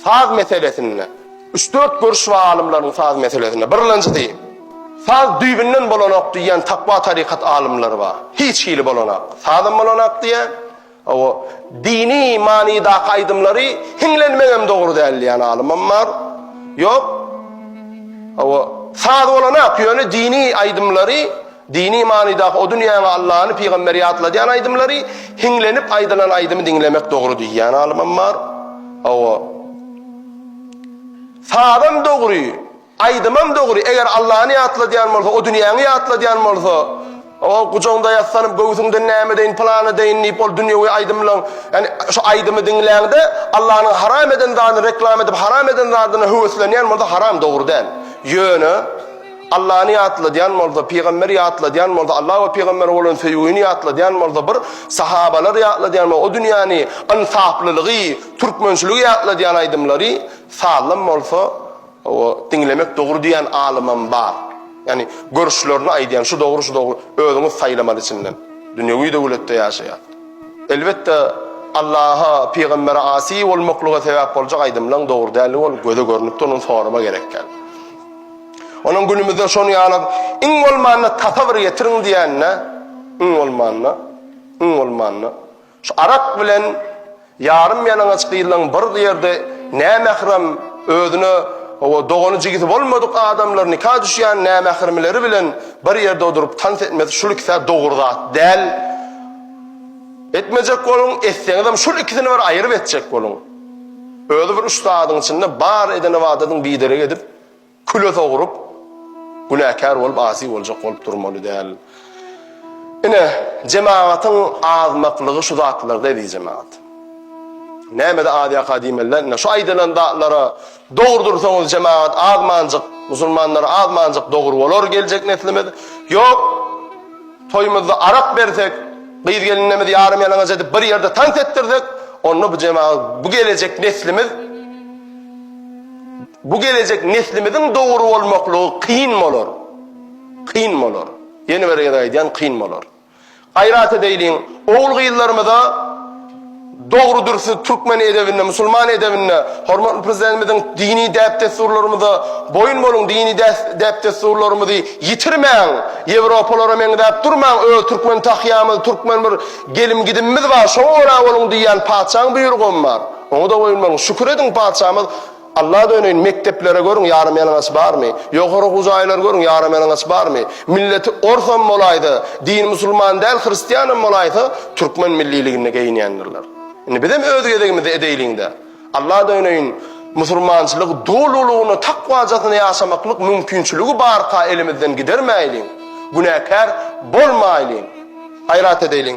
Saz meselesinde üç-dört görüş bar alymlaryň saz meselesinde. Birlenjisi, saz düýbünden bolanok diýýän takwa tarykat alymlary bar. Hiç hili bolanok. Sazam bolanok diýýär. Hawa, dini manydaky aýdymlary hiňlenmegem dogry däl diýýän alymam bar. Ýok. Hawa, saz bolanok, ýöne dini aýdymlary Dini manydaky o dünýäňe Allany, pygamberi ýatladýan aýdymlary hiňlenip aýdylan aýdymy diňlemek dogry diýýän alymam bar. Hawa. Sazam dogry, aýdymam dogry, eger Allany ýatladýan bolsa, o dünýäňi ýatladýan bolsa, o gujagyňda ýassanyp, göwsüňden näme deýin, pylana deýin diýip ol dünýewi aýdymlaň, ýani şu aýdymy diňläňde Allanyň haram eden zadyny reklam edip, haram eden zadyna höweslenýän bolsa haram dogry däl. Ýöne. Allany ýatladýan bolsa, pygamberi ýatladýan bolsa, Alla we pygambere bolan söýgini ýatladýan bolsa, bir sahabalary ýatladýan bolsa, o dünýäni, ynsaplylygy, türkmençiligi ýatladýan aýdymlary, sazlam bolsa, o diňlemek dogry diýýän alymam bar. Ýagny görüşlerini aýdýan, şu dogry, şu dogry, özüňiz saýlamaly içinden. Dünýewi döwletde ýaşaýas. Elbetde Allaha, pygambere asy bolmaklyga sebäp boljak aýdymlaň dogry däli ol göze görnüp dur, ony sorama gerek däl. Onuň günümizde şon ýaly iň bolmanda tasa bir getiriň diýenine, iň bolmanda, iň bolmanda şu arak bilen ýarym ýalaňaç gyzlaň bir ýerde nämährem özüne o dogany jigisi bolmadyk adamlar nika düşýän nämähremleri bilen bir ýerde oduryp tans etmesi şul ikisä dogry zat däl. Etmejek boluň, etseňizem şul ikisini bir aýryp etjek boluň. Özi bir üstadyň içinde bar eden ibadatyň biderek edip küle sogrup, günäkär bolup, asi boljak bolup durmaly däl. Ine, jemagatyň azmaklygy şu zatlarda, eziz jemagat. Nämede az ýaka diýmeliler? Ine, şu aýdylan zatlara dogry dursaňyz, jemagat azmanjyk, musulmanlar azmanjyk dogry bolar geljek neslimiz. Ýok, toýumyzda arak bersek, gyz-gelinlerimizi ýarym-ýalaňaç edip, bir ýerde tans etdirsek, onda bu jemagat, bu gelejek neslimiz, bu gelejek neslimiziň dogry bolmaklygy kyn bolar. Kyn bolar. Ýene bir gezek aýdýan kyn bolar. Gaýrat edeýliň, ogul-gyzlarymyza dogry dürsi türkmen edebinde, musulman edebinde, hormatly Prezidentimiziň dini däp-dessurlarymyza boýun boluň, dini däp-dessurlarymyzy ýitirmäň, ýewropalara meňzäp durmaň, öz türkmen tahýamyz, türkmen bir gelim-gidimimiz bar, şoňa görä boluň diýýän patyşaň buýrugam bar. Oňa-da goýulmaň. Şükür ediň, Patyşamyz Alla döneýin, mekdeplere görüň, ýarym ýalaňaç barmy? Ýokary okuw jaýlary görüň, ýarym ýalaňaç barmy? Milleti orsam bolaýsa, dini musulman däl, hristianam bolaýsa, türkmen milliligini geýinýändirler. Indi bizem öz gezegimizde edeýliň-de. Alla döneýin, musulmançylygy dolulygyna, takwajasyna ýaşamaklyk mümkinçiligi barka elimizden gidermäýliň, günäkär bolmaýlyň, gaýrat edeýliň.